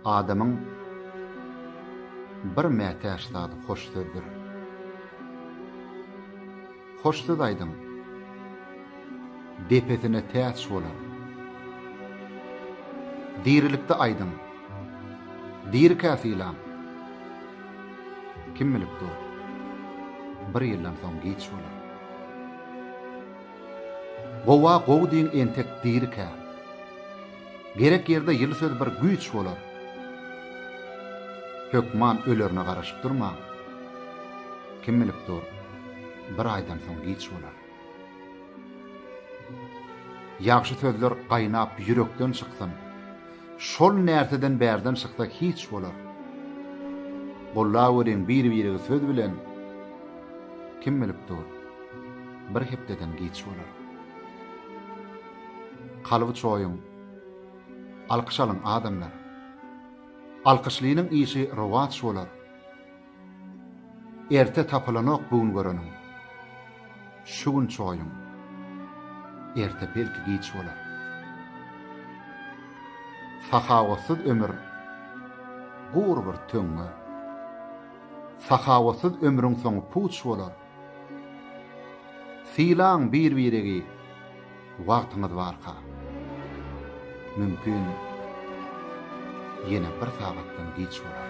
Adamyň bir mätäç zady hoş sözdür. Hoş söz aýdyň, depesine täç bolar. Dirilikde aýdyň, dirikä sylaň. Kim bilip dur, bir ýyldan soň giç bolar. Gowa gowy diýiň entek dirikä. Gerek ýerde ýyly söz bir güýç bolar. Hökman ölerine garaşyp durmaň. Kim bilip dur, bir aýdan soň giç bolar. Ýagşy sözler gaýnap ýürekden çyksyn. Şol närseden bärden çyksa hiç bolar. Gollaweriň bir-birigi söz bilen, Kim bilip dur, bir hepdeden giç bolar. Kalby çoýuň. Alkyş alyň, adamlar. Alkyşlynyň işi rowaç bolar. Erte tapylanok bu gün göreniň. Şu gün çoýuň. Erte belki giç bolar. Sahawatsyz ömür gury bir töňňe. Sahawatsyz ömrüň soňy puç bolar. Sylaň bir-biregi wagtyňyz barka. Mümkin ýene bir sagatdan giç bolar.